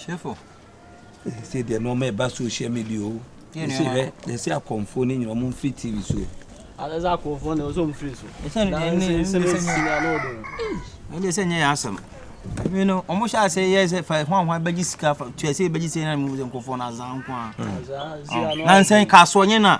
hwɛfo sɛ deɛ nɔɔma ɛba social media o ɛsɛ hwɛ ɛsɛ akɔmfoɔ no nyina ɔmo mfiri tv so ɛsɛ akɔmfoɔ no ɔsɛ ɔmfiri so ɛsɛ no deɛ ne sɛ ɛnyɛ sɛ nyɛ yɛ asɛm ɛmi no ɔmo hyɛ ase yɛ sɛ fa ho ahoa bɛgye sika fa tua sɛ bɛgye sɛ na mu sɛ nkɔfoɔ no azan nko a nansɛn kasoɔ nyɛ na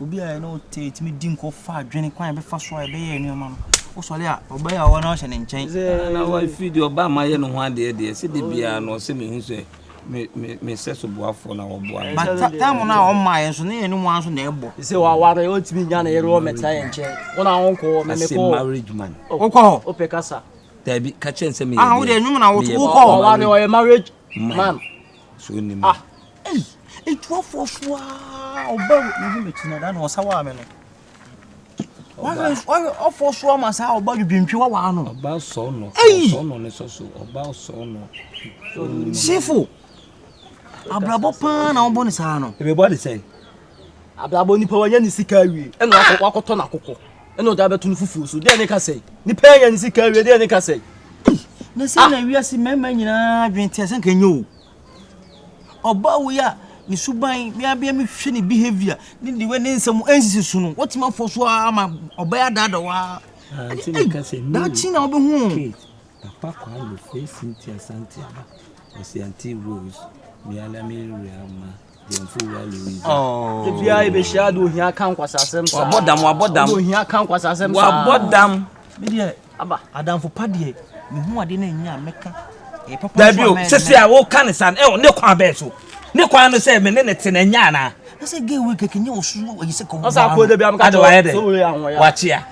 Obi a yɛne wo te a, yɛtumi di nkɔmmɔ fa adwene kwan a yɛbɛfa so a yɛbɛyɛ nneɛma no. Wosɔre a, ɔbɛyɛ a ɔwɔ na ɔhyɛ ne nkyɛn. Na wafiri deɛ ɔbaa ma ayɛ ne ho adeɛ deɛ, sɛ da biara no ɔsɛ mehu sɛ me me me sɛ so boafoɔ na wɔboa me. But time no a ɔmaa yɛn nso, ne yɛn ne wɔn nso na ɛbɔ. Sɛ waware, ɔntumi nya ne yere wɔ mɛtena yɛn nkyɛn. Wɔn a wɔnkɔ hɔ, mɛmɛ kɔ hɔ. marriage man. Wokɔ hɔ? Wopɛ kasa. Dabi, ka kyɛn sɛ meyɛ. Ah, wode ɛnwom na woto wokɔ hɔ. Waware, ɔyɛ marriage man. So nim. Ah. Ei! Etu afoɔ so aa ɔba o. Mehu me ti na da na ɔsa waa me no. Wahwɛ afoɔ so ama saa ɔba dwodwontwe wawaa no. Ɔba sɔɔ no. Ei! Sɔɔ no ne sɔ so. Ɔba sɔɔ no. Sifo. Abrabɔ paa na wɔbɔ ne saa no. Ebɛbɔ ne sɛn? Abrabɔ nipa wanya ne sika awie. Ɛna wakɔ wakɔtɔ n'akokɔ. Ɛna ɔde abɛto no fufuo so. Deɛ ne ka sɛn? Nipa anya ne sika awie deɛ ne ka sɛn? Na sɛ na wiase mmarima nyinaa adwene te a sɛ nka nyɛ o. Ɔbaa wei a ne suban, me abia me hwɛ ne behavior, ne the way ne nsɛm ɛnsisi so no, wotumi afɔ so ara ma ɔbɛyɛ adaada waa. Nti na ka sɛ daakye na wobɛhu. Papa Kwame fɛ Cynthia Santiaba, ɔsi anti Rose, me ala me real ma. Oh. Ebia ebehyia de ohia ka nkwasasɛm saa. Wabɔ dam, wabɔ dam. De ohia ka nkwasasɛm saa. Wabɔ dam. Me deɛ aba adamfo pa deɛ me hu ade na nya meka. E papa. Dabi o, sese a wo kan san. E ne kwan bɛ so. Ne kwan no sɛ me ne ne te na nya na. Ese gay we keke nye osu yi se ko. Asa ko de bi am ka. Ade wa ye de. Wa chia.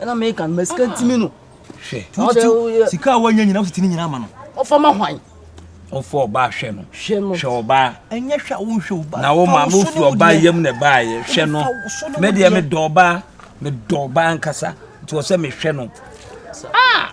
ɛna meka no ma sika ntimi no hwɛ wokyɛ sika a woanya nyina wositini nyina ama no ɔfa ma hwan ɔfa ɔbaa hwɛ no hwɛ ɔbaa ɛnyɛ hwɛ a wonhwɛ ɔbaa na wo maame ofi ɔbaa yam na ɛbaayɛ hwɛ no me deɛ medɔ ɔbaa medɔ ɔbaa nkasa nti wɔ sɛ mehwɛ no ah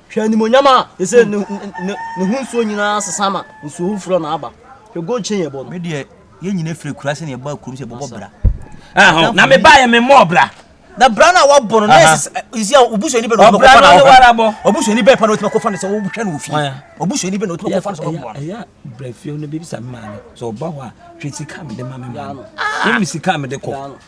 Hwɛ animuonyam a ɛsɛ ne, ne, ne ho nsuo nyinaa sesa ma nsuo foforɔ na aba. Hwɛ gold chain ɛbɔ no. Me deɛ yɛn nyinaa firi kura sɛ na yɛba kurom sɛ yɛbɛbɔ bra. Ɛhɔ na me ba yɛ me mɔ bra. Na bra na wabɔ no na ɛsɛ isi a obusuani bɛ na ɔbɛ kɔfa na ɔbɛ. Obusuani bɛ pa na ɔtuma kɔfa na sɛ ɔhwɛ na ofi. Obusuani bɛ na ɔtuma kɔfa na sɛ ɔbɔ. Ɛyà brɛ fie no bɛ bisa mi maa mi sɛ ɔba hɔ a hwɛ sika mi de ma mi maa no. Ɛmi sika mi de kɔ.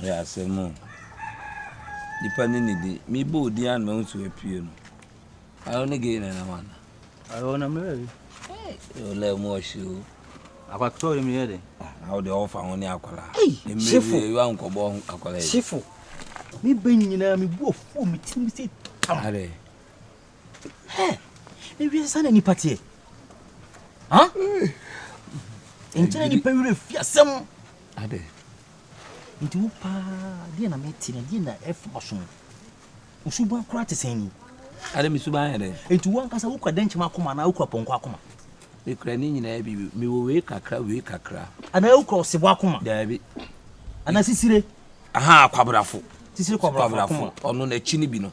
Ɛyɛ asɛm o. Nnipa no nnidi. Mebɔ wo din ano ma wo nso apue no. Ayo ne gay na ɛnam ana? Ayo na mmerɛ yi. Yo lɛ mu ɔhye o. Akwakutɔ yɛ meyɛ dɛ. Awo deɛ ɔfa ho ne akwara. Shifo. Mmerɛ yi wa nkɔbɔ akwara yi. Shifo. Me bɛ nyinaa me bu afuo me tirim sɛ tam. Adɛ. Hɛ! Ne wiase saa na nipa teɛ. Ha? Nkyɛn nipa werɛ fi asɛm. Ade. Nti wo paa deɛ na mete na deɛ na ɛfa waso no. Wo suban koraa te sɛn ni? Ade me suban yɛ dɛn? Nti wo ankasa wokura dɛnkyɛm akoma anaa wokura pɔnkɔ akoma? Mekura ne nyinaa bi bi. Mewɔ wei kakra wei kakra. Anaa wokura ɔsebɔ akoma? Daabi. Anaa sisire? Aha akwabrafo. Sisire kwabrafo akoma. Ɔno n'akyi no bi no.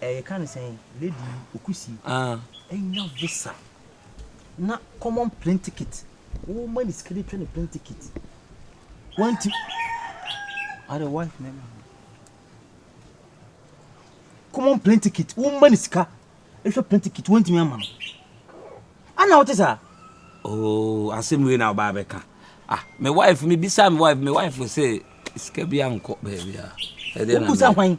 Eh yɛka no sɛn lady yi okusi anya visa na common plane ticket wo ma ne sika de twa ne plane ticket wanti are wife na ma common plane ticket wo ma ne sika ehwɛ plane ticket wantumi ama no ana wote saa oh asɛm wei na ɔbaa bɛka ah me wife me bisa me wife me wife say sika bi ankɔ baabi a ɛdeɛ na wokusa hwan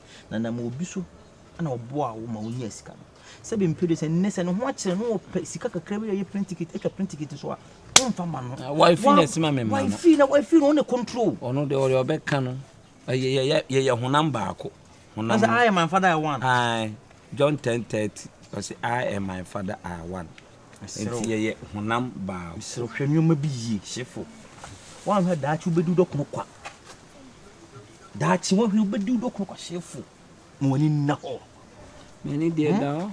na nam obi so na ɔboaa wo ma wonyaa sika no. Sɛbe mpedu sɛ nnɛ sɛ ne ho akyerɛ no ɔpɛ sika kakra bi yɛ plane ticket atwa plane ticket so a womfa ma no. Ah, wife na ɛsi ma me ma no. Wife na wife no ɔne control. Ɔno deɛ ɔde ɔbɛka no. Yɛyɛ honam baako. Honam. Ɔsɛ I am my father I want. Aye. John ten thirty. Ɔsɛ I am my father I want. Nti yɛyɛ honam baako. Srɛ hwɛ nneɛma bi yie. Hyefo. Wɔanhwɛ daakye wobɛdi wodɔkono kwa. Daakye woahwɛ wobɛdi wo dɔkono kwahyɛfo ma w'ani nna hɔ. M'ani deɛ hmm? da hɔ.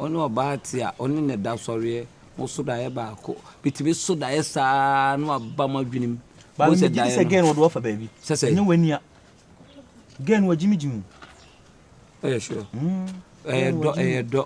Ɔne ɔbaa te a ɔne ne da sɔreɛ mo so daeɛ baako bitumi so daeɛ saa na waba mo adwenem. Baabi mi gyi sɛ gɛn wɔde wafa baabi. Sɛsɛ. Ɛnyɛ w'ani a. Gɛn wagyimigyimi. Ɛyɛ sure. Hmm. Ɛyɛ dɔ ɛyɛ dɔ.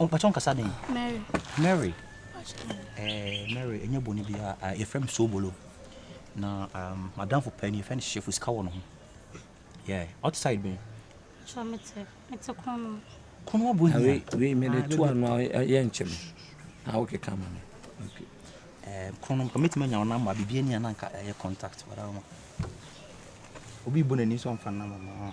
mpakyɛ nkasa den mary eh, mary ɛnyɛ bɔne biara ah, yɛfrɛ me sobolo na um, madamfo pɛ no yɛfrɛ no hyefo sika wɔ no ho yeah ɔte side bɛn kono abɔ hiawei mede to ano yɛ nkyɛm na wokeka ma me eh, kono nka mɛtumi anya wo namba biribi ani a na nka ɛyɛ contact wadama obi bu n'ani sɛ ɔmfa namba ma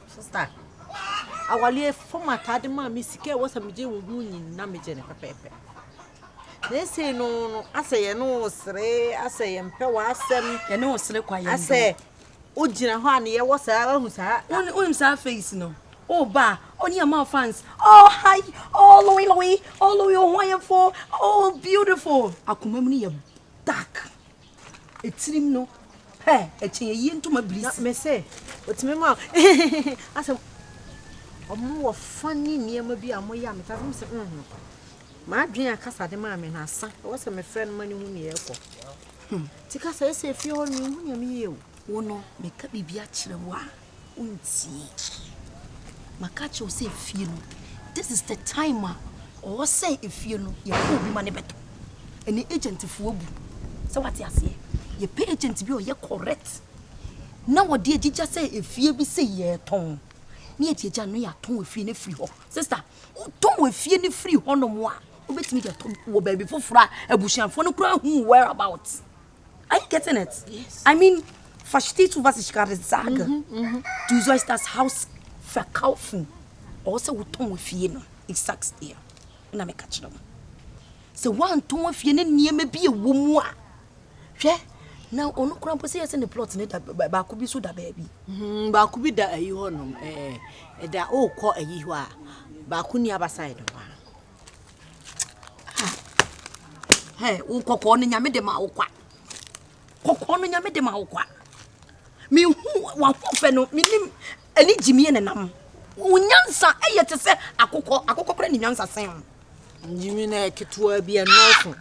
Sista, awaleɛ fam ataade maa me sika a ɛwɔ sɛ megye wo ho nyinaa megye no pɛpɛɛpɛ. Na ɛsei no no asɛ yɛne wo sere asɛ yɛmpɛ w'asɛm. Yɛne wo sere kwa yɛn Asɛ wogyina hɔ a ne yɛwɔ saa wahu saa. Wonim saa face no. Oh ba, oh ni ama fans. Oh hi, oh Louis Louis, oh Louis oh wonderful, oh beautiful. Akoma mu no yɛ dark. Etirim no pɛ ɛkyɛn ayie ntoma biri si. Na me se otumi ma hehehehe asɛm. Ɔmo wɔ funny nneɛma bi a ɔmo yɛ a mete ase me se mm m'adwene a kasa de maa me no asa ɛwɔ sɛ me frɛ no ma no hu nea ɛrekɔ hmm ti kasa ɛsɛ efie hɔ no me nhu nea me yɛ o. Wo no meka biribi akyerɛ wo a. wontie. Maka akyerɛ wo sɛ efie no, this is the time a ɔwɔ sɛ efie no yɛfrɛ obi ma ne bɛtɔ. Ɛnɛ agent fo abu. Sɛ wate aseɛ? Yɛpɛ agent bi a ɔyɛ correct. Na wɔde agyigya sɛ efie bi sɛ yɛtɔn. Ne yɛde agya no yɛatɔn efie no afiri hɔ. Sister, wotɔn efie no firi hɔnom a, wobɛtumi de atɔ wɔ baabi foforɔ a abusuafoɔ no koraa hu whereabouts. Are you getting it? Yes. I mean, verstehe zu, was ich gerade sage. Mhm, mhm. Du sollst das Haus verkaufen. Ɔwɔ sɛ wotɔn w'afie no. Ich sag's dir. Ɛna meka kyerɛ wo. Sɛ woantɔn afie ne nneɛma bi ɛwɔ mu a, hwɛ na ɔno kora mpo sɛ yɛ sɛ ne plot ne da baako bi so da baabi. Mhm, baako bi da ayi hɔ nom. Ɛɛ, eh, ɛda ɔrekɔ ayi hɔ a, baako ni abasa yɛ ne hɔ a. Hey, wo kɔkɔɔ no nyame de ma wo kwa. Kɔkɔɔ no nyame de ma wo kwa. Mehu w'ahofɛ no, menim ɛne gyimie ne nam. Wo nyansa ɛyɛ te sɛ akokɔ, akokɔ kora ne nyansa sɛn. Gyimie no ɛketewa bi ɛnɔɔso.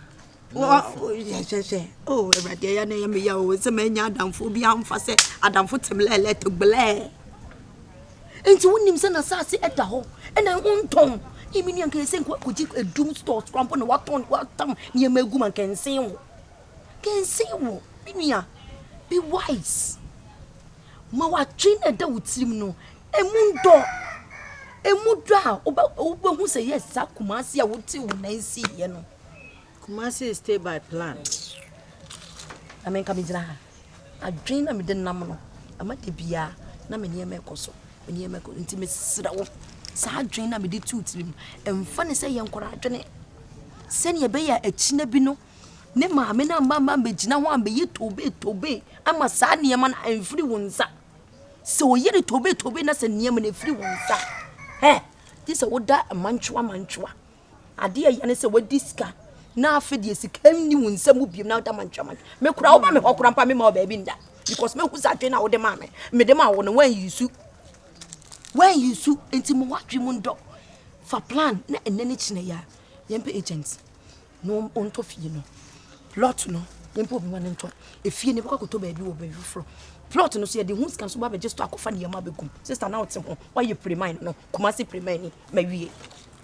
hwɛhwɛ oh awurade ɛyɛ na ɛyɛ me ya o sɛ manya adamfo bi amfa sɛ adamfo teblɛɛlɛ teblɛɛ nti wonim sɛ n'asase ɛda hɔ ɛna wontɔn ɛmi ni anka ɛsɛ nkɔgye adum stores korampo na watɔn watam nneɛma agu ma nkɛnsen wo kɛnsen wo me nua be wise ma watwe na ɛda wo tirim no ɛmu ndɔ ɛmu dɔ a wobɛhu sɛ yɛ saa kumase a wote wo nan si yɛ no Kumasi stay by plan. Na me nka me gyina ha. Adwene na mede nam no. Ama da biara na me nneɛma ɛkɔ so. Me nneɛma ɛkɔ nti mesrɛ wo. Saa adwene na mede tu tirim. Ɛmfa ne sɛ yɛ nkɔla adwene. Sɛnea ɛbɛyɛ akyina bi no ne maame na mma mma mbɛgyina ho a mbɛyɛ tobe tobe ama saa nneɛma no ɛmfiri wo nsa. Sɛ ɔyɛ ne tobe tobe na sɛ nneɛma no ɛfiri wo nsa. Hɛ! Gye sɛ woda mantwoa mantwoa. Ade a ɛyɛ ne sɛ wadi sika na afe deɛ sika nni wo nsɛm mu biom na woda mantwaman. Me kora woba me hɔ kora mpa mema wo baabi nda because mehu sɛ adwene a wode maa me mede ma wo no woanyi su woanyi su nti mo wadwe mu ndɔ fa plan na ɛnɛ ne kyinɛ yɛ a yɛmpɛ agent na ɔntɔ fie no plot no yɛmpɛ obi ma no ntɔ efie no bɛkɔ akɔtɔ baabi wɔ baabi foforɔ plot no so yɛde ho sika no so ba bɛgye store akɔfa nneɛma bɛgum sista na wote ho woayɛ piriman no kuma se piriman ni mawie